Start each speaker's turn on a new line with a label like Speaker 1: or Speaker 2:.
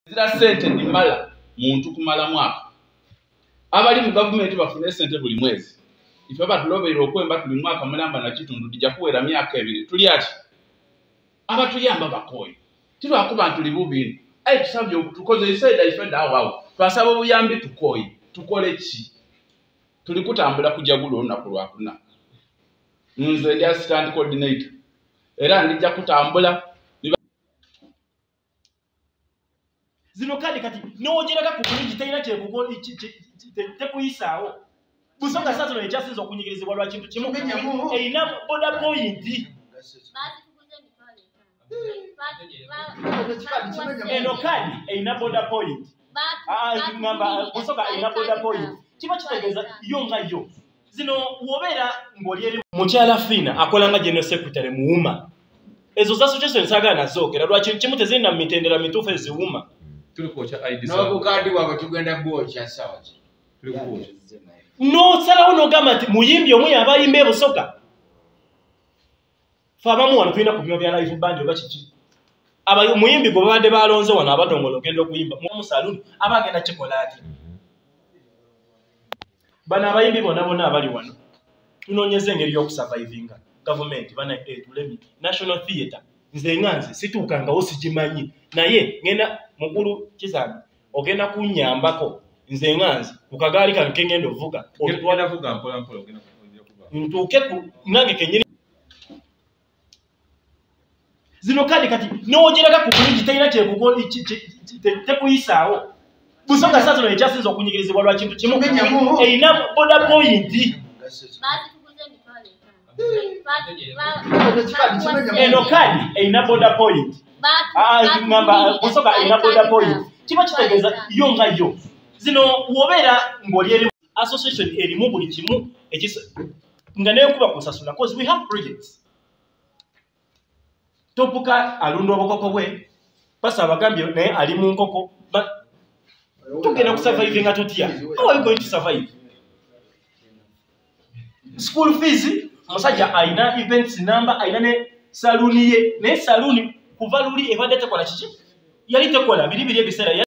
Speaker 1: zira sente ndimala muntu kumala mwaka abali mu gavumenti bafune sente buli mwezi ife batulobeera okwemba tuli mwaka mulamba nakitundu tija kuwera myaka ebiri tuli ati abatuyamba bakooyi tilwakuba ntuli bubini aye tusabye okutukoze isaida ife dawawo twasaba obuyambi tukooyi tukole ki tuli kutambula kujagula olunaku lwakuna nze ndi assistant coordinator era ndijja kutambula
Speaker 2: zino kadi kati newogeraga ku bulungi terina kyekuyisaawo busonga saa zino ekyasinza okunyigirizibwa lwa kintu kimu erina boda poyinti eno kadi erina boda poyinti ah, ah, busonga erina boda poyinti kiba kitegeeza yo nga yo zino wobeera ng'oli eri mukyala fiina akola nga general secretary muwuma ezo za association saagala nazoogera lwaki kimu tezirina mu mitendera mituufu eziwuma nobukaadi
Speaker 3: bwabwe tugenda bwokya sawa
Speaker 2: nosalawo nogamba nti muyimbi omu yaba ayimba ebusoga fe abamu wano tulina kubima bya live band oba kiki omuyimbi gwe babadde balonze wano abadongola ogenda okuyimba musaluni aba agenda kikola ati bano abayimbi bona bona abali wano tunonyeza engeri yokusurvivinga gavumenti bana etulemi eh, national theatre nze nga nze situukangawo sigimanyi naye ngenda mukulu kizambi ogenda kunyambako nze nga nze ku kagaali kange kengenda ovuga
Speaker 4: ntuuke
Speaker 2: nange kenyini zino kaadi kati newogeraga ku bulungi terina kyekuyisawo busonga saa zino ekyasinza okunyigirizibwa lwa kintu kimu erina boda poyinti eno kadi erina boda point ngamba musoka erina boda point kiba kitegeeza yo nga yo zino wobeera ng'oli eri association erimu buli kimu nga neyokuba kusasula bcause we have projects topuka alunda obukoko bwe pasa abagambye naye ali mu nkoko tugenda kusurvive nga totya how are you going to survive school fees omusajja alina events number alina ne saluuni ye naye saluuni kuva luli ebadde tekola kiki yali tekola biri biri ebiseera